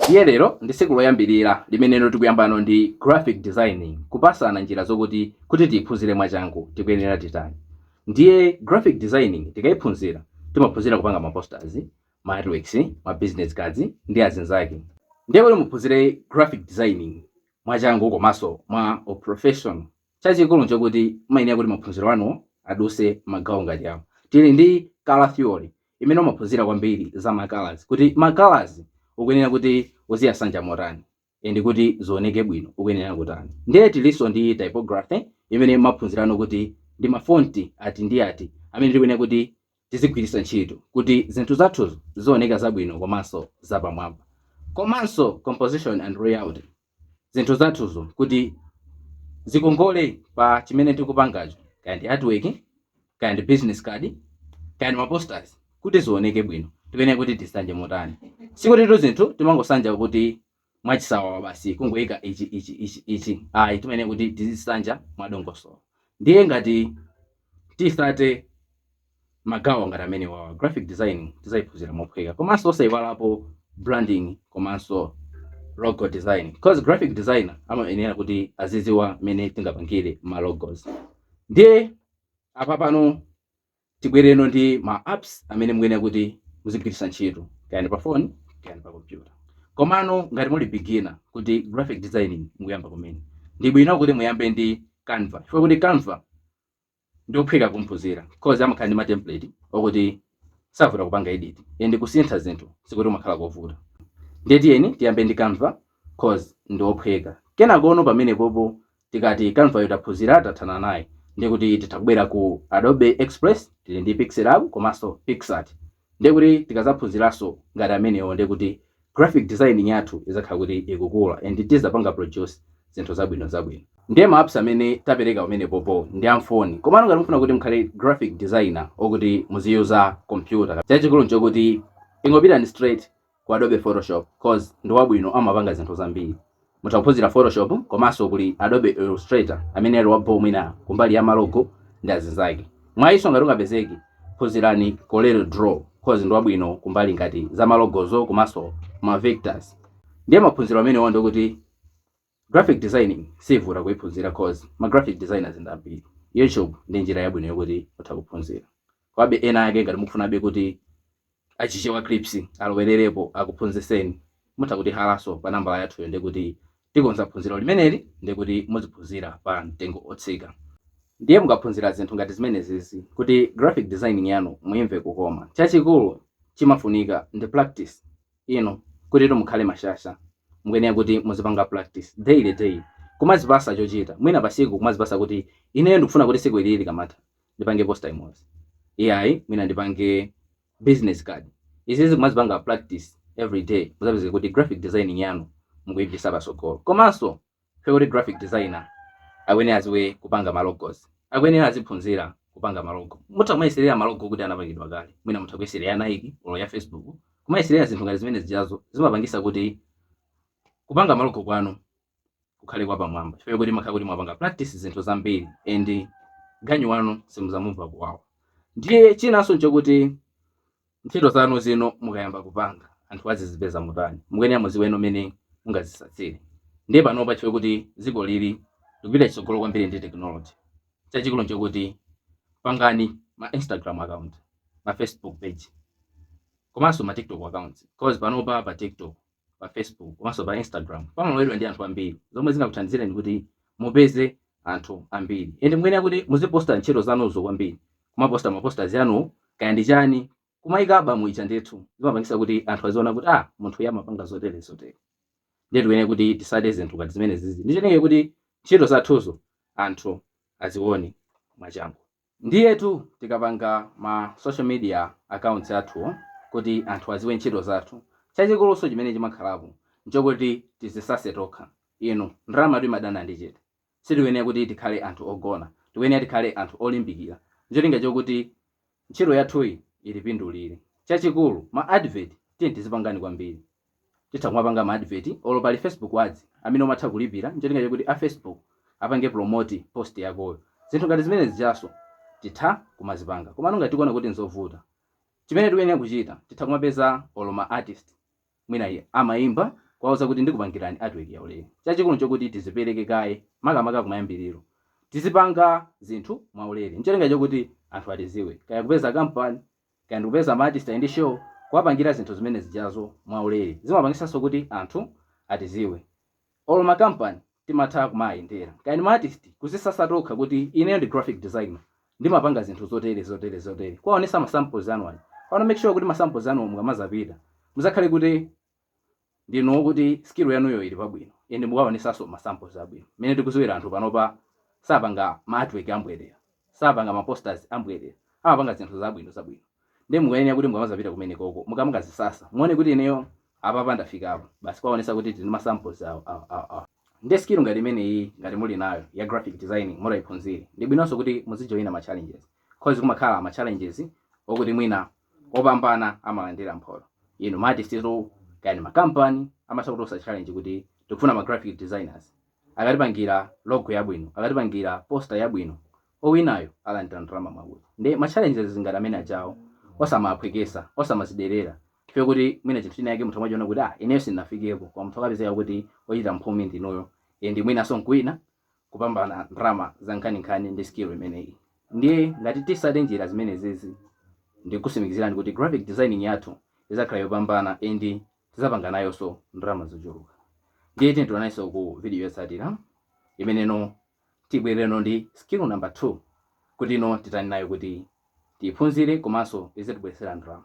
Ndiye lero ndi tsiku loyambilira limene tikuyambano ndi Graphic Designing, kupasana njira zokuti kuti tiyiphunzire mwachangu tikuyenera titani. Ndiye Graphic Designing tikayiphunzira timaphunzira kupanga ma posters, ma artworks, ma business cards ndi azinzake. Ndiye kuti muphunzire Graphic Designing mwachangu komanso mwa u professional Chachikulu nchokuti mumayenera kuti maphunziro anu aduse magawo ngati awa. Tili ndi color theory imene umaphunzira kwambiri za ma colours kuti ma colours ukuyenera kuti uziyasanja motani and kuti zioneke bwino ukuyenera kutani. Ndiye tilinso ndi typography imene mumaphunzirano kuti ndi ma font ati ndi ati amene tikuyenera kuti tizigwiritsa ntchito kuti zinthu zathuzo zioneka zabwino komanso zapamwamba. Komanso composition and layouting. zinthu zathuzo kuti zikongole pa chimene tikupangacho kaya ndi artwork kaya ndi business card kaya ndi maposters kuti zioneke bwino timeneka kuti tisanje motani sikutitu zinthu timangosanja kuti mwachisawawa basi kungoyika ichi ichi ayi timeneka kuti tizisanja mwadongosolo ndiye ngati tisate Magawo ngati amenewawa, graphic designing tizaiphunzira mophweka komanso osaiwalapo branding komanso logo designing because graphic designer amayenera kuti aziziwa mmene tingapangire ma logos. Ndiye apapano tibwereno ndi ma apps amene mukuyenera kuti muzigwiritsa ntchito kaya ndi pa phone kaya ndi pa computer. Komano ngati muli beginner kuti graphic designing mukuyamba kumene, ndibwino kuti muyambe ndi Canva chifukwa kuti Canva. ndiophweka kumuphunzira coz amakhala ndi ma template okuti savuta kupanga edit and kusintha zinthu sikuti kumakhala kovuta ndiye tiyeni tiyambe ndi canva coz ndiophweka kenakono pamenepopo tikati canvayo taphunzira tathana naye ndikuti titha kubwera ku adobe express tili ndi pixelab komanso pixart Ndiye kuti tikazaphunziranso ngati amenewo ndiye kuti graphic designing yathu izakhala kuti ikukula and tizapanga produce zinthu zabwino zabwino. Ndiye ma apps amene tapereka pamenepopo ndi a mfoni komano ngati mufuna kuti mukhale graphic designer okuti muziyuza computer chachikulu nchokuti ingopitani straight ku adobe photoshop cause ndi wabwino amapanga zinthu zambiri mutha kuphunzira photoshop komanso kuli adobe illustrator amene ali wabho mwina kumbali ya malogo ndi azinzake mwayinso ngati ungapezeke phunzirani corel draw cause ndi wabwino kumbali ngati za malogozo komanso ma vectors ndiye maphunziro amenewa ndikuti Graphic designing siivuta kuiphunzira coz ma graphic designers ndi ambiri. Youtube ndi njira yabwino yokuti mutha kuphunzira. Komabe ena ake ngati mukufunabe kuti a Chichewa Clips alowererepo akuphunzitseni, mutha kutihalaso pa nambala yathuyo ndikuti tikonza phunziro limeneli ndikuti muziphunzira pa mtengo otsika. Ndiye mukaphunzira zinthu ngati zimenezizi kuti graphic designing yanu muimve kukoma, chachikulu chimafunika ndi practice. inu kutitu mukhale mashasha mukuyenera kuti muzipanga practice daily daily kumazipasa chochita mwina pasiku kumazipasa kuti ineyo ndikufuna kuti siku lililonse likamatha ndipange poster imodzi iyayi mwina ndipange business card izizi kumazipanga practice everyday muzapezeka kuti graphic designing yanu mukuipitisa pasogolo komanso Fact yoti graphic designer akuyenera aziwe kupanga ma logos. Akuyenera aziphunzira kupanga ma logo. Mutha kumayeserera ma logo oti anapangidwa kale. Mwina mutha kuyeserera ya Nike or ya Facebook. Kumayeserera zinthu ngati zimene zijazo zimapangisa kuti kupanga ma logo kwanu kukhale kwa pamwamba. Chifukwa choti mmakhala kuti mwapanga practice zinthu zambiri and ganyu wanu simuzamumva kuwawa. Ndiye chinanso nchokuti Ntchito zanu zino mukayamba kupanga anthu azizipeza motani mukuyenera muziweno mmene mungazisatsire ndiye panopa chfukwa choti ziko lathu likupita chitsogolo kwambiri ndi technology chachikulu nchokuti pangani ma Instagram account ma Facebook page komanso ma TikTok accounts coz panopa pa TikTok pa Facebook komanso pa Instagram pamalowedwa ndi anthu ambiri zomwe zingakuthandizireni kuti mupeze anthu ambiri and mukuyenera kuti muziposta ntchito zanuzo kwambiri kumaposta mapostas anu kaya ndi chani kumayika album ija ndithu zimapangisa kuti anthu aziona kuti ah munthu uyu amapanga zotere zotere ndiye tikuyenera kuti tisate zinthu ngati zimene zizi ncholinga choti ntchito zathuzo anthu azione mwachangu Ndiyetu tikapanga ma social media accounts athuwo kuti anthu adziwe ntchito zathu, chachikuluso chimene chimakhalapo nchokuti tizisase tokha. Inu, ndalamatu imadana ndi chete. Sitikuyenera kuti tikhale anthu ogona, tikuyenera tikhale anthu olimbikira ncholinga chokuti ntchito yathuyi itipindulire. Chachikulu, ma advert tiyeni tizipangani kwambiri. titha kumapanga ma advert olo pali facebook ads amene umatha kulipira ncholinga chakuti a facebook apange promote post yakoyo zinthu ngati zimene zijaso titha kumazipanga komano ngati tikuona kuti nzovuta chimene tikuyenera kuchita titha kumapeza olo ma artist mwina iye amaimba kuwauza kuti ndikupangireni artwork yaulere chachikulu nchokuti tizipereke kaye makamaka kumayambiriro tizipanga zinthu mwaulere ncholinga chokuti anthu atiziwe kaya kupeza kampani kaya ndikupeza ma artist ali ndi show kuwapangira zinthu zimene zijazo mwa ulere zimapangisanso kuti anthu atiziwe olo ma company timatha kumaayendera kaya ndi ma artist kuzisasa tokha kuti ineyo ndi graphic designer ndimapanga zinthu zotere zotere zotere kuwaonesa ma samples anu aja pamene make sure kuti ma samples anuwo mukamazapita muzakhale kuti ndinu okuti skill yanuyo ili pabwino and mukaonesanso ma samples abwino. Mmene tikuziwira anthu panopa sapanga ma artwork ambwerera, sapanga ma posters ambwerera, amapanga zinthu zabwino zabwino nde mukuyenera kuti mukamazapita kumenekoko mukamakazisasa muone kuti ineyo apapa ndafikapo basi kuwaonesa kuti tili ndi ma samples awa awa awa awa. Nde skill ngati imeneyiyi ngati muli nayo ya graphic designing mutaiphunzira ndibwinonso kuti muzijoina ma challenges coz kumakhala ma challenges okuti mwina opambana amalandira mphoto inu ma artist kaya ndi ma company amatha kuponsa challenge kuti tikufuna ma graphic designers akatipangira logo yabwino akatipangira poster yabwino owinayo alandira ndalama mwakuti nde ma challenges ngati amene ajawo osamaphwekesa osamaziderera chifukwa kuti mwina chinthu china yake munthu amachiona kuti ah ineyo sindinafikeko koma munthu akapezeka kuti ochita mphumi ndinuyo ndi mwinaso nkuwina kupambana ndrama zankhaninkhani ndi skill imeneyi ndiye ngati tisate njira zimenezizi ndikusimikizirani kuti graphic designing yathu izakhala yopambana and tizapanga nayoso ndrama zochuluka ndiye tionanenso ku video yotsatira imene no tibwere no ndi skill number 2 kuti ino titani nayo kuti tiiphunzire komanso izitibweresera ndrama.